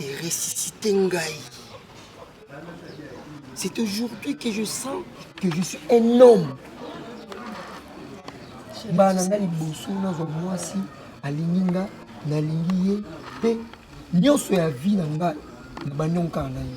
et ressusciter ngai. C'est aujourd'hui que je sens que je suis un homme. mbala na ngai liboso nazwa mwasi alingi nga nalingi ye mpe nyonso ya vie na ngai na baniongo kaka na ye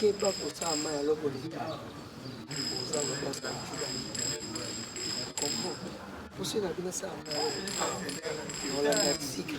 keba kosala mai ya loko leta oza lokosa kombo poso na bino sala mai ya loko olanda sika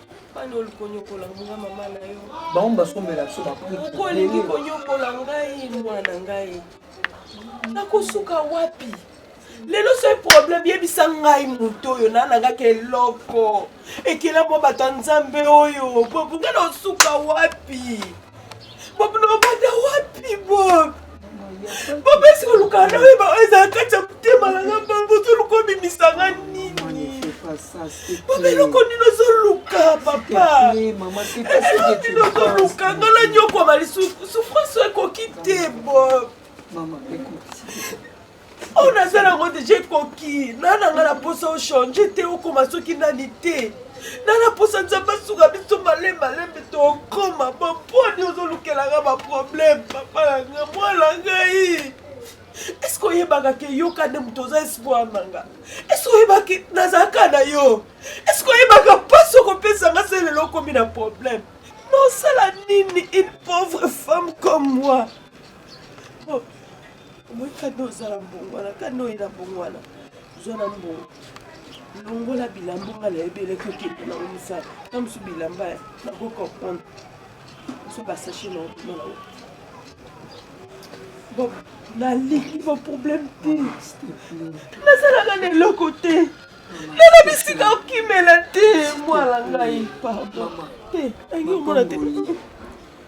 bana olingi konyokola nga mama na yo bango basombela biso bapuku olingi konyokola ngai mwana ngai nakosuka wapi lelo soki problème yebisa ngai moto oyo nanangaka eloko ekela mwa bato ya nzambe oyo bokoki na osuka wapi Bob nobanda wapi Bob? Bob esi koluka na oyeba oyo ezala kati ya motema na nga Bob ozoluka obimisanga nini? Bob eloko nini ozoluka papa? Eloko nini ozoluka nga na nyokwama lisusu souffrance ekoki te Bob. oyo naza nango deja ekoki na nanga na posa ochange te okoma soki nani te na na posa nzambe asuka biso malemalembe tokoma baponi ozolukelanga baproblème papa na nga mwana ngai eske oyebaka ke yoka nde moto oza espoir na nga eske oyebaki nazalaka na yo eske oyebaka mpasi okopesa nga se lelo okomi na problème nosala nini une pauvre femme comme moi oh. omoi kanda ozala mbongwana kanda oyina mbongwana zwa na mbongo longola bilamba nga nayebi eleki okende nango mosala na mosu bilamba ya nako comprendre mosu basache na okoma nango nalingi baproblème te nazalaka na eloko te nana bisika okimela te mwana ngai pardon te nangi omona te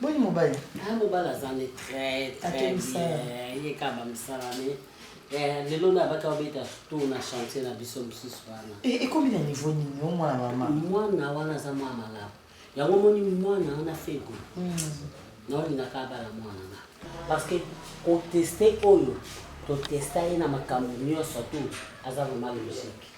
Boni mobali? Ah, mobali aza nde très très bien. Ye kaka ba misala mais eh, lelo na baka obeta tour na chantier na biso mosusu wana. Eh, ekomi na niveau nini yo mwana mama? Mwana wana aza mwana malamu. Yango moni mwana wana fego. Hmm. Naolingaka abala mwana na. Parce que koteste oyo totesta ye na makambo nyonso tu aza vraiment logique.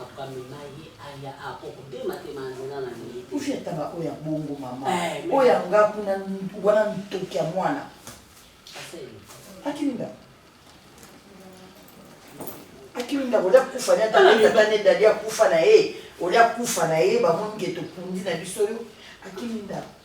Ako amema ye aya ako kobema te ma nzela na ndenge te. Kufi ata ba oya bongo mama. Eh, oya nga kuna wana ntoki ya mwana. Aseli. Akimi nga. Akimi nga olia kufa na tata tata ne dali akufa na ye. Olia kufa na ye ba moni ke tokundi na biso yo. Akimi nga.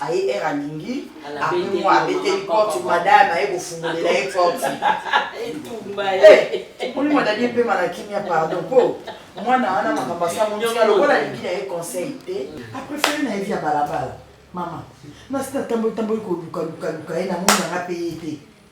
aye heure alingi apres mwa abeteli porte madame aye kofungolela ye porte omoni madadi epema na kimia pardon mpo mwana wana makambo asamonisa lokola alingi na ye conseil te aprefere na evi ya balabala mama nasi natamboli tamboli kolukalukaluka ye namoni yanga mpe ye te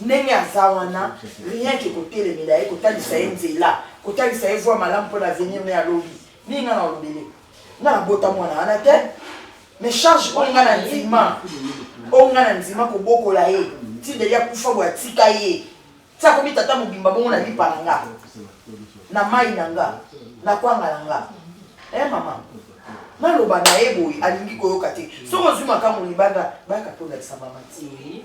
ndenge aza wana rien ke kotelemela ye kotalisa ye nzela kotalisa ye voie malamu mpo na avenir ne ya lobi ndenge nga na olobele nga nabota mwana wana te mais charge oyo nga na ndima oyo nga na ndima kobokola ye ti deli akufa boye atika ye ti akomi tata mobimba bongo na lipa na nga na mai na nga na kwanga na nga e eh, mama naloba na ye boye alingi koyoka te soki ozwi makambo libanda baka mpo olakisa mama ti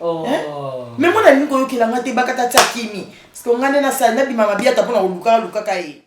Oh. Hein? Mais moi, nalingi koyokela nga te bakata tia kimi. Parce que nga nde na sala nabima mabiata pona koluka lukaka ye.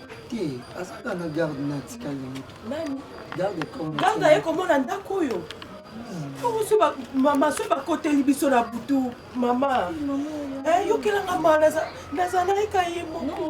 te aza kaka na garde na atikali nani garde aye komona ndako oyo okosi mama soki bakoteli biso na butu mama eh, yokelanga ma nazalaki ka ye moko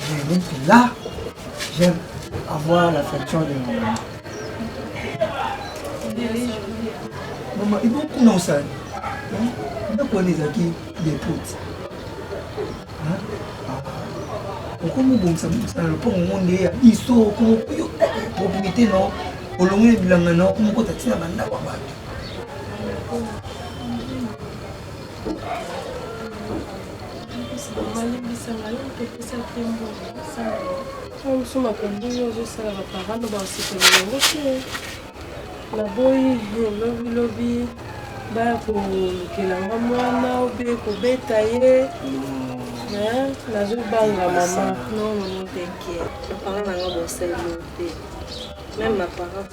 Je vais être là. J'aime avoir l'affection de mon maman. Maman, il faut qu'on en sache. Donc on est acquis des potes. Hein? okomobongisa bongisa na lopango ngo nde ya biso okomokuyo propriété no olongoli bilanga na okomokota ntina bandako ya bato mosusu makambo oyo ozosala baparano baosepela yango te naboyi lobilobi baya kolukela nga mwana obe kobeta ye nazobanga mama non maman tenkepanga nanga bosalelo te meme maparent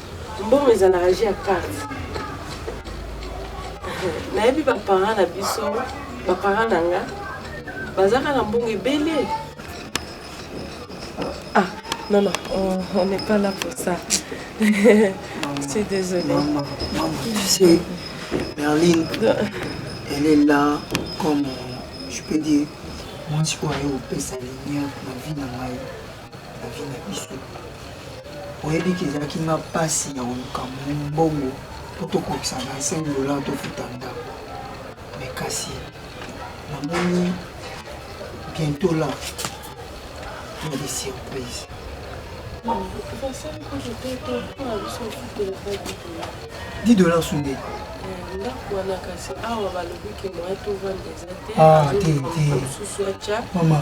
Mbongo ezalaka jeu ya carte. Nayebi ba parents na biso, ba parents na nga bazaka na mbongo ebele. Ah, non non, on, on n'est pas là pour ça. Je suis désolée. Maman, maman, tu sais, Berlin, elle est là comme, euh, je peux dire, moi, je suis allé au Pessaline, ma vie dans ma vie. Ozo na biso. Oyebi ke ezalaki nga pasi ya koluka mbongo po tokokisa 25 dollars tofuta ndako. Mais kasi namoni bientôt là il y a des surprises. Dix dollars sous deux. ndako wana kasi awa balobi ke moyen tovanda eza te mama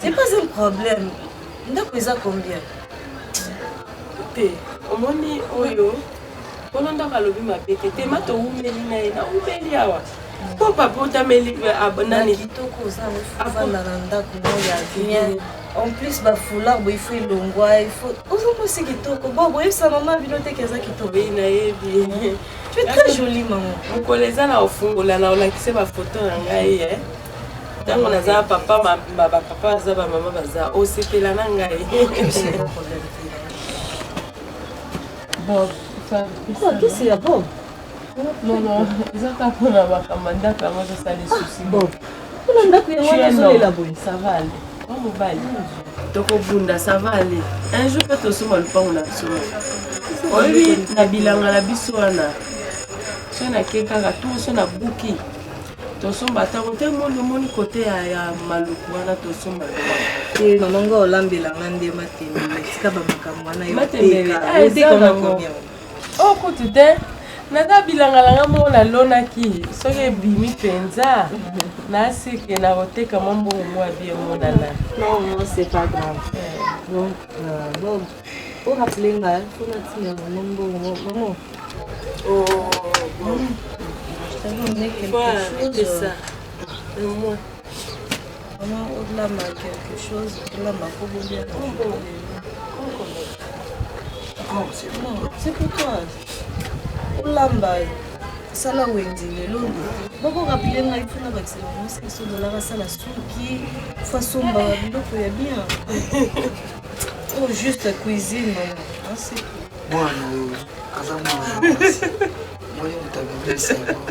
C'est pas un problème. ndako eza combien te omoni oyo wana ndako alobi mabe te te ma towumeli na ye nawumeli awa mpo papa otameli nanitoko ozafanda na ndako mo ya bien en plus bafoulard bo ifo elongwa ifo ozomosi kitoko bo boyebisa mama bino teke eza kitoko ye nayebi Tu es très jolie maman. Mokolo eza na ofungola na olakise ba photo na ngai eh. Tango naza papa ba ba ba papa baza ba mama baza osepela na ngai. Bob, ça. Quoi, qu'est-ce qu'il y a Bob Non, non, eza kaka mpona makambo ndako yango ezosala esusi. Bob, kuna ndako yango wana ezolela boye saval mwa mobali tokobunda savale un jour mpe tosomba lopango na biso oyebi na bilanga na biso wana so nake kaka tour so na buki tosomba ntango te moni omoni kote ya maluku wana tosomba eh, nonongo olambelanga nde matembele esika bamakambo wana yo teka Oh kutu te naza bilangalanga moko nalonaki soki ebimi mpenza naseke na koteka mwa mbongo mwa bi emonana oraple nga mpona ntina yango mbongo mamo Oh, ça. Vraiment, au-delà de quelque chose, au-delà de ma Oh, c'est bon. C'est pour toi. Olamba, sala wenzi lelo bokoka pile ngai mpo nabakisa bango seso dolaka asala suki fo asomba biloko ya bien o juste cuisine mama aseko mwana oyo aza mwana mwasi moye motabibisa yango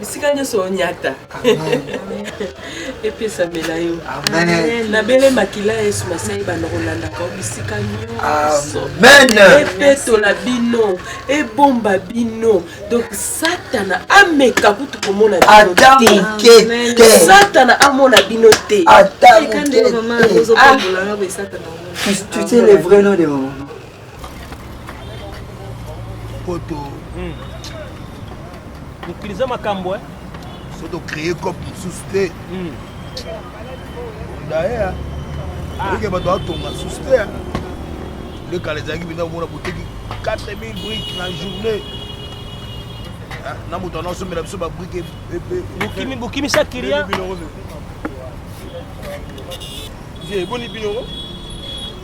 bisika nyonso onyata epesamela yo nabele makila ya yesu masai banda kolandaka bisika nyonso epetola bino ebomba bino donc satana ameka kutu komona bino te satana amona bino te tu sais le vrai nom de maman poto hmm. utilize makambo eh? so tocreye cope mosusu te hmm. daer ah. oyike bato atonga susu te eh? lekala ezalaki mpenza komona boteki 4000 brike na journée eh, na moto ana osombela biso babrike epe bokimisa kilia boni bino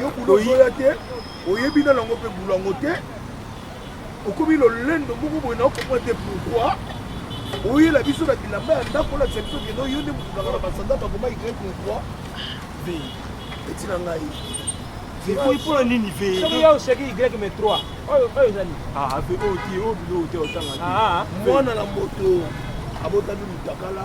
yo kuna ozoya te oyebi na nango mpe bulu yango te okomi lolendo moko boye na okomwa te pourkoi oyela biso na bilamba ya ndako olakisa biso kendo yo nde mokutaka na basanda bakoma ikai pourkoi ve etina ngai ekoki mpo na nini ve soki yo oseki y me 3 oyo oyo ezali ah, ve oyo te oyo bilo oyo te otanga te ah, ah. mwana na moto abotami motakala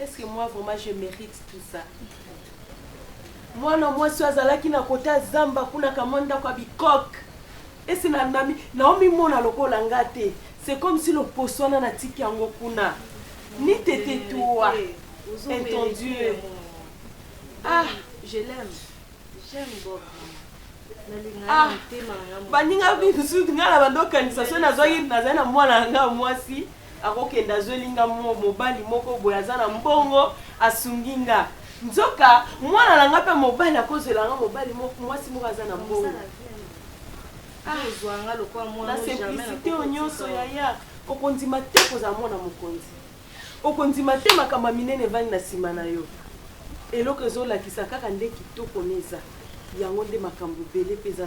Est ce que moi vraiment je merite tout ça? Mwana mwasi oyo azalaki na kote ya zamba kuna kamwa ndako ya bikoke esi na nami naomimona lokola nga te c'est comme si loposo wana natiki yango kuna ni tete toi entendu ah je l'aime j'aime Bob ah baninga bisu ngai na bando okanisa soki nazwaki nazali na mwana na ngai mwasi Akokende azweli nga mo, mobali moko boye aza na mbongo asungi nga. Nzoka mwana na nga mpe mobali akozwela nga mobali moko, mwasi moko aza na mbongo. Ah, na simplicité oyo nyonso yaya, okondima te kozala mwana mokonzi. Okondima te makambo ya minene evandi na nsima na yo. Eloko ezolakisa kaka nde kitoko neza yango nde makambo ebele mpe eza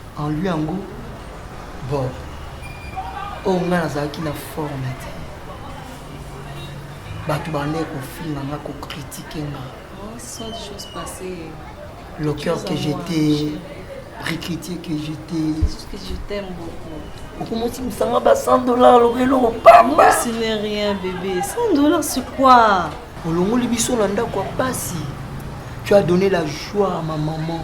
En lui yango bon oyo oh, ngai nazalaki na forme te bato bandai kofinga nga kokritike nga le cœur que j'étais recruté que j'étais okomoti mosanga ba 100 dollars lokola eloko pamba ce n'est rien bébé 100 dollars c'est quoi olongoli biso na ndako ya pasi tu as donné la joie à ma maman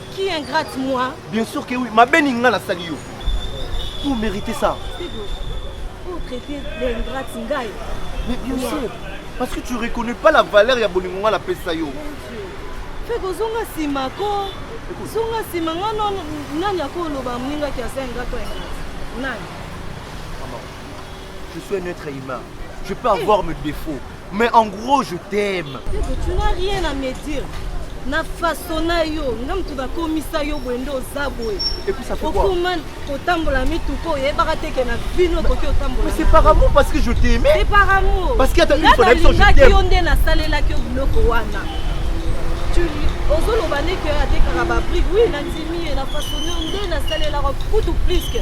Qui ingrate moi? Bien sûr que oui. Ma beni nga nasali yo. Vous méritez ça. Vous traitez d'ingrate ngai. Mais bien sûr. Parce que tu reconnais pas la valeur ya bolingo nga napesa yo. Fais kozonga sima ko. Zonga sima nga non nani akoloba mninga ki asa ingrate ingrate. Nani? Je suis un être humain. Je peux avoir mes défauts. Mais en gros je t'aime. Tu n'as rien à me dire. na faso na yo nga moto bakomisa yo boye nde oza boye okoma kotambola mituka oyebaka te ke na bino okoki otambolase par amour parce que je t'aime c'est par amour parce que nga nalingaki yo nde nasalelaki yo biloko wana ozoloba nde ke atekaka babrike wi nandimi ye na faso na yo nde nasalelaka kutu pliske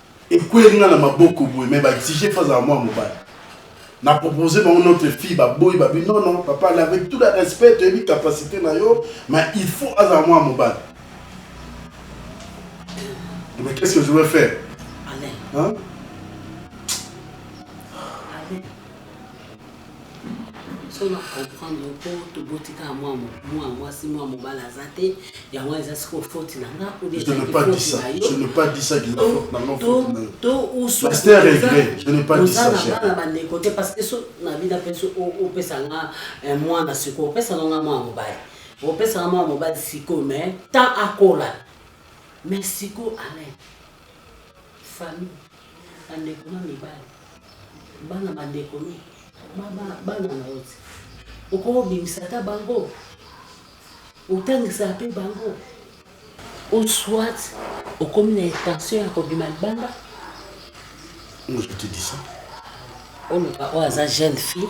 Ekweli nga na maboko boye mais ba exige fa azala mwana mobali. Na proposer bango notre fille ba boyi ba bi non non papa la avec tout le respect to yebi capacite na yo mais il faut azala mwana mobali. Mais qu'est-ce que je vais faire? Amen. Hein? soki na comprendre mpo toboti kaka mwa mwasi mwa mobali aza te yango wana eza sikoyo foti na nga obeoza na bana bandeko te parce que so na bina mpe so opesa nga eh, mwana sikoyo opesa nanga mwana mobali opesa nga mwana mobali sikoyo mais temps akola mais sikoyo alain Famille, bandeko na mibali, bana bandeko no, bana na yo ti okobimisa ata bango otangisaka mpe bango ou soit okomi na intention ya kobima libanda Moi, je te dis ça. oloba oyo aza jeune fille